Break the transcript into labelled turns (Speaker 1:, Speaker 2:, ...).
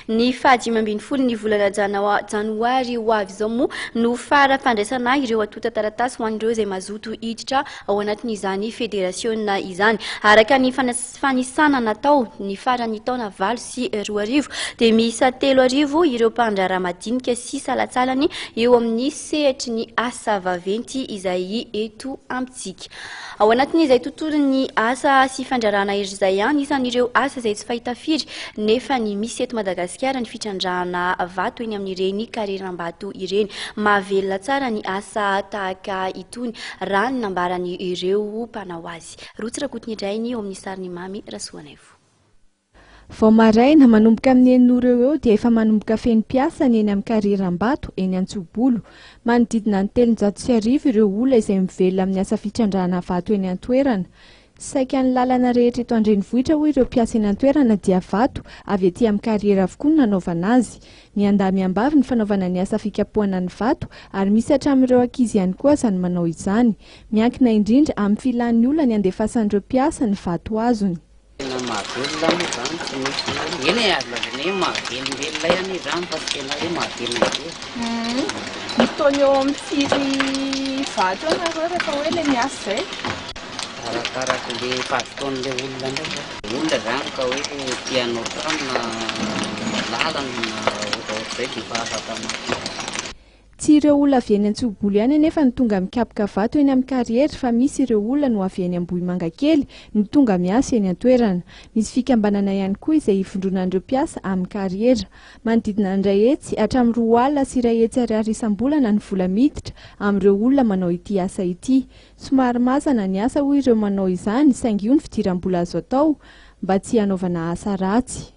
Speaker 1: Ny faha dimy ambin'ny folo ny volana janawa, janoary, ho avy izao moa no fara fandraisana ireo antontan-taratasy ho an'ireo izay mazoto hiditra ao anatin'izany federasiona izany. Araka ny fanisana natao, ny faran'ny taona valo sy roa arivo dia miisa telo arivo ireo mpandraharaha madinika sy salantsalany eo amin'ny sehatry ny asa vaventy izay eto amintsika. tsika. Ao anatin'izay tontolon'ny asa sy fandrarana hery izay, anisan'ireo asa izay tsy fahita firy nefa ny misy eto Madagasikara ny fitrandrahana vato eny amin'ireny kareram-bato ireny. Mahavelona tsara ny asa tahaka itony raha ny nambaran'ireo mpanao azy. Rotsy Rakotonidray ny eo amin'ny sarin'i Mamy Rasoanaivo.
Speaker 2: Vao maraina, manomboka amin'ny enina ora eo ho eo dia efa manomboka feno mpiasa ny eny amin'ny Carrière Ambato, eny Antsobolo. Manodidina ny telonjato sy arivo ireo olona izay mivelona amin'ny asa fitrandrahana vato eny an-toerana. Saika ny lalana rehetra eto an-drenivohitra hoy ireo mpiasa eny an-toerana dia vato avy aty amin'ny carrière avokoa no nanaovana azy. Miandahy miambavy ny fanaovana ny asa fikapohana ny vato ary misy hatramin'ireo ankizy ihany koa aza no manao izany. Miankina indrindra amin'ny filan'ny olona ny handefasan'ireo mpiasa ny vato azony. Tena mahavelona anie izany tsy misy hoe, eny e azo lazaina hoe mahavelombelona ihany izany
Speaker 3: fa tsy tena hoe mahavelona be e. Mitaona eo amin'ny firy vato eo nareo rehefa hoe ilay miasa izay? Arakaraka
Speaker 4: le mpazotoan'ilay olona ndray zany. Olona zany ka hoe te hanao trano na lalana na ohatraohatrizay dia efa afaka maka. Tsy
Speaker 2: ireo olona avy eny Antsihobolo ihany anefa no tonga mikapoka vato eny amin'ny kariera fa misy ireo olona no avy eny Ambohimangakely no tonga miasa eny an-toerana. Misy fikambanana ihany koa izay ivondronan'ireo mpiasa amin'ny kariera. Manodidina ny iray hetsy hatramin'ny roa alina sy iray hetsy ariary isam-bolana ny vola miditra amin'ireo olona manao ity asa ity. Somary mazana ny asa hoy ireo manao izany saingy io ny fidiram-bola azo atao mba tsy hanaovana asa ratsy.